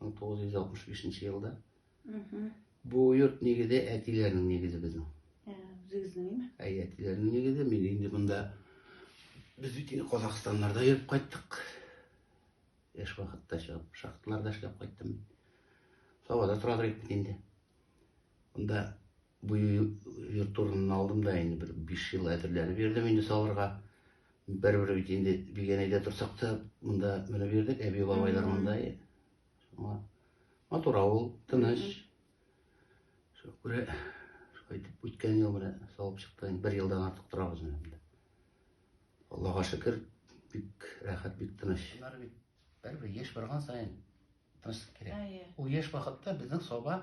1965 нче елда. Бу йорт нигезе әтиләрнең нигезе безнең. Ә, үзегезнең име? Әй, әтиләрнең нигезе. Мин инде монда без бит инде Казахстаннарда йөреп кайттык. Яшь вакытта чыгып, шахталарда эшләп кайттым. Сабада тора торыйк бит инде. Монда Бу йорт урынын алдым да инде бер биш ел әзерләнеп йөрдем инде салырга. Бер-бер бит инде Бигәнәйдә торсак та, монда менеп йөрдек, әби бабайлар монда. Шуңа матур авыл, тыныч. Шуңа күрә шулай итеп үткән ел менә салып чыкты. Инде бер елдан артык торабыз менә монда. Аллага шөкер, бик рәхәт, бик тыныч. Алар бит бер-бер еш барган саен тынычлык кирәк. Ул еш вакытта безнең соба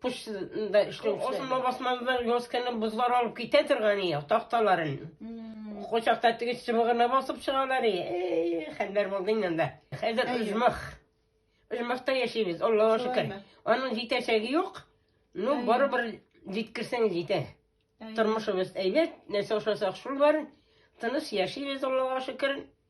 почтада эшләүчеләр. Ошонда басмадан язканы бозлар алып китә торган ие, такталарын. Кочакта теге чыбыгына басып чыгалар ие. Хәлләр булды инде анда. Хәзер оҗмах. Оҗмахта яшибез, Аллага шөкер. Аның җитәчәге юк. Ну, барыбер җиткерсәң җитә. Тормышыбыз әйбәт, нәрсә ошасак шул бар. Тыныч яшибез, Аллага шөкер.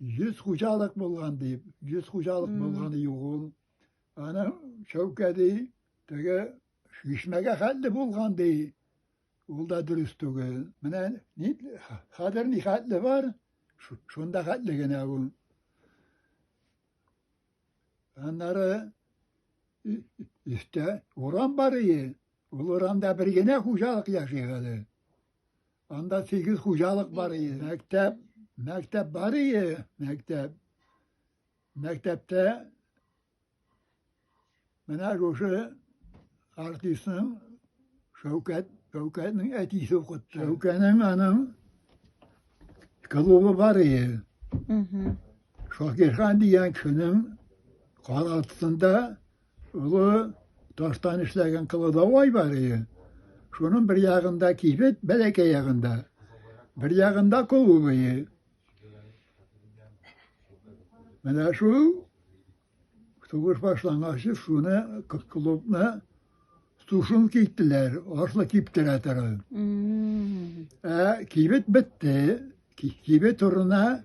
100 хуҗалык булган дип, 100 хуҗалык булган юк ул. Аны Шәүкәди теге шишмәгә хәтле булган ди. Ул да дөрес түгел. Менә ни хәзер ни хәтле бар, шунда хәтле генә ул. Аннары өстә урам бар ие. Ул урамда бер генә хуҗалык яши әле. Анда сигез хуҗалык бар иде. Мәктәп, мәктәп бар иде, мәктәп. Мәктәптә менә шушы артистның Шәүкәт, Шәүкәтнең әтисе укытты. Шәүкәнең аның клубы бар иде. Шакирхан дигән кешенең каралтысында Олы таштан эшләгән кылыдавай бар иде. Шуның бер ягында кибет, бәләкәй ягында. Бер ягында клубые. Менә шул сугыш башлангач, шуны клубны сушын киттеләр, ашлы киптерә торган. Ә кибет бетте. Кибет урынына